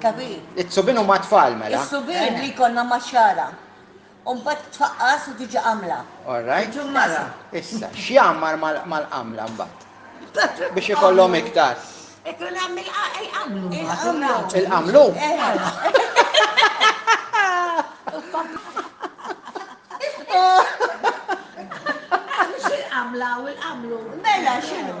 Capi? Is-subien huma t-tfal mela. Is-subien li jkollna max-xagħra. U mbagħad tfaqqas u tiġi qamla. All right. Tiġi mara. Issa, x'jgħammar mal-qamla mbagħad? Biex ikollhom iktar. Ikun hemm il-qamlu. Il-qamlu? Il-qamlu. Il-qamlu. Mela x'inhu?